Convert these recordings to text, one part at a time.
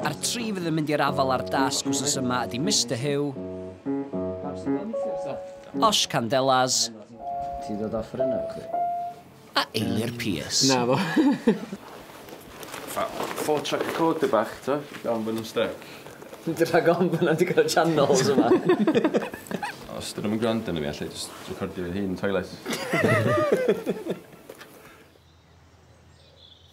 A'r tri fydd yn mynd i'r afael â'r dasg wsos yma ydi Mister Huw, Osh Candelas Ti dod off yr yna chdi? a Eilir Pierce. Na fo. Fatha four track recorder bach t'o'? Iawn bo' nw'n styc. Dwi rhag ofn bo' 'na digon o channels yma. Os 'dyn nw'm yn grando arno fi alla i jyst recordio fy hun yn toilet.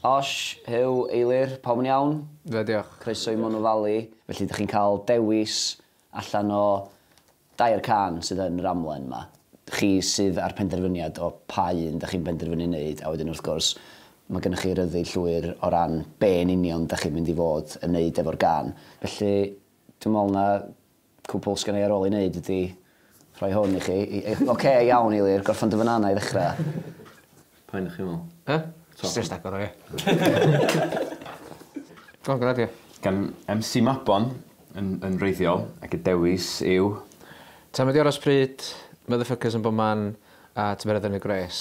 Osh, Huw, Eilir, pawb yn iawn? Ie, diolch. Croeso i Monnow Valley. Felly dych chi'n cael dewis allan o dair cân sydd yn yr amlen 'ma. Chi sydd â'r penderfyniad o pa un dych chi'n penderfynu wneud, a wedyn wrth gwrs mae gennych chi ryddid llwyr o ran be yn union dych chi'n mynd i fod yn wneud efo'r gân. Felly dwi'n meddwl na Cwpwl sgynna i ar ôl ei wneud ydi rhoi hwn i chi. I- i- Ocê, iawn, Eilir, gorffen dy fanana i ddechra. Pa un dych chi'n meddwl? Be? Jyst jyst agor o ia? Go on, gad ia. Gan MC Mabon yn yn wreiddiol ac y dewis yw... Time ydi aros pryd, motherfuckers yn bo man a tymereddau yn y gwres.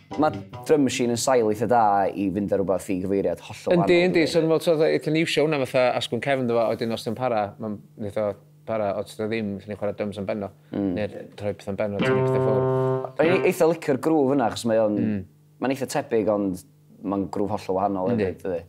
Mae Drum Machine yn sail eitha da i fynd â rhywbeth i gyfeiriad hollol wahanol. Yndi, yndi. So, fel ti'n eitha ni iwsio hwnna fatha asgwrn cefn ynddo fo, a wedyn os dio'n para, mae'n wneud o para, os dio ddim, allen ni chwarae drums am ben o, neu'r rhoi pethau'n ben o, tynnu pethau ffwrdd. O'n i'n eitha licio'r groove yna, achos mae o'n... Mae'n eitha tebyg, ond mae'n groove hollol wahanol hefyd, dydi?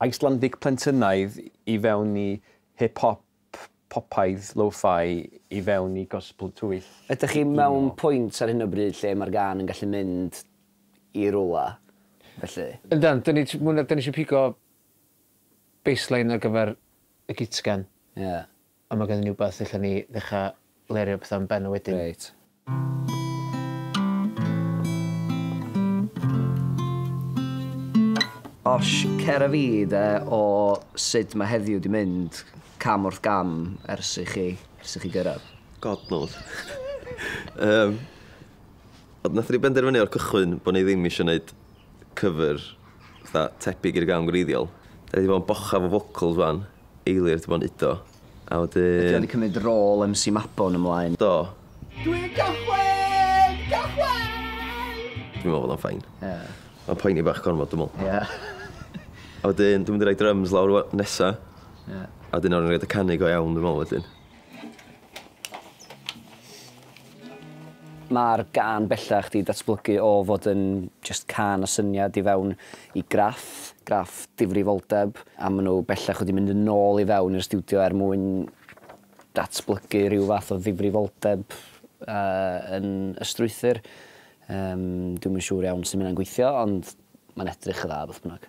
Icelandic plentynnaidd i fewn i hip hop popaidd lo-fi i fewn i gospel twyll, Ydych chi mewn pwynt ar hyn o bryd lle mae'r gân yn gallu mynd i rywle felly? Yndan, dan ni t- mwy na dan ni isio pigo baseline ar gyfer y gitgan. Ie. Ond mae genddyn ni wbath lle allen ni ddechra lerio petha am Ben a wedyn... Reit. Osh, cer a fi de o sud mae heddiw 'di mynd cam wrth gam ers i chi, ers i chi gyrraedd. God knows. Yym, ond nathon ni benderfynu o'r cychwyn bo' ni ddim isio neud cover fatha tebyg i'r gân gwreiddiol. 'Dan ni 'di bod yn bochaf o vocals 'wan Eilir dim ond udo. A wedyn... Ydy o wedi cymryd rôl MC Mabon ymlaen? Do. Dwi'n cychwyn! Cychwyn! Dwi'n meddwl bod o'n fine. Ie. Mae'n poeni bach gormod dwi'n meddwl. Ie. A wedyn dwi'n mynd i roi drums lawr nesa. Ie. A wedyn awn ni roid y canu go iawn dwi'n meddwl wedyn. Mae'r gân bellach 'di datblygu o fod yn jyst cân â syniad i fewn i graff, graff difrifoldeb, a maen nhw bellach wedi mynd yn ôl i fewn i'r stiwdio er mwyn datblygu rhyw fath o ddifrifoldeb yn y strwythur. Dwi'm yn siŵr iawn sut mae hynna'n gweithio ond mae'n edrych yn dda beth bynnag.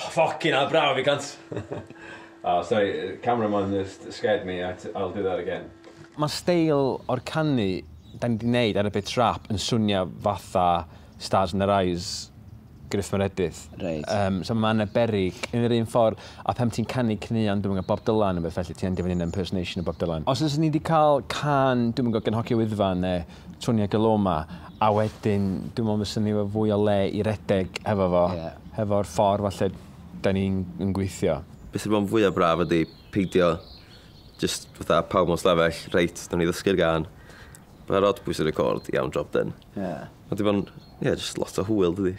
Ffocin hell braf i gant! O sori, camera man just scared me at I'll do that again. Ma'r steil o'r canu 'da ni 'di neud ar y bit rap yn swnio fatha Stars in Their Eyes, Gruff Meredydd. Reit. Yym so ma' Anne Berrig yn yr un ffor a phan ti'n canu caneuon dwi'm yn gwbo Bob Dylan ne' rwbeth felly ti yn dy fynnu yn impersonation o Bob Dylan. Os fysen ni 'di ca'l cân dwi'm yn gwbo gan Hogie Wyddfa ne' Tonya Geloma, a wedyn dwi'n meddwl fysa ni efo fwy o le i redeg hefo fo, hefo'r ffordd falle da ni'n yn gweithio. Be sy'n bod fwya braf ydi peidio jyst fatha pawb mewn stafell, reit, nawn ni ddysgu'r gân, fatha rhodbwys y record, iawn, job done. Ie. Ma' 'di bod yn Ie, yeah, just lot o hwyl, dydy.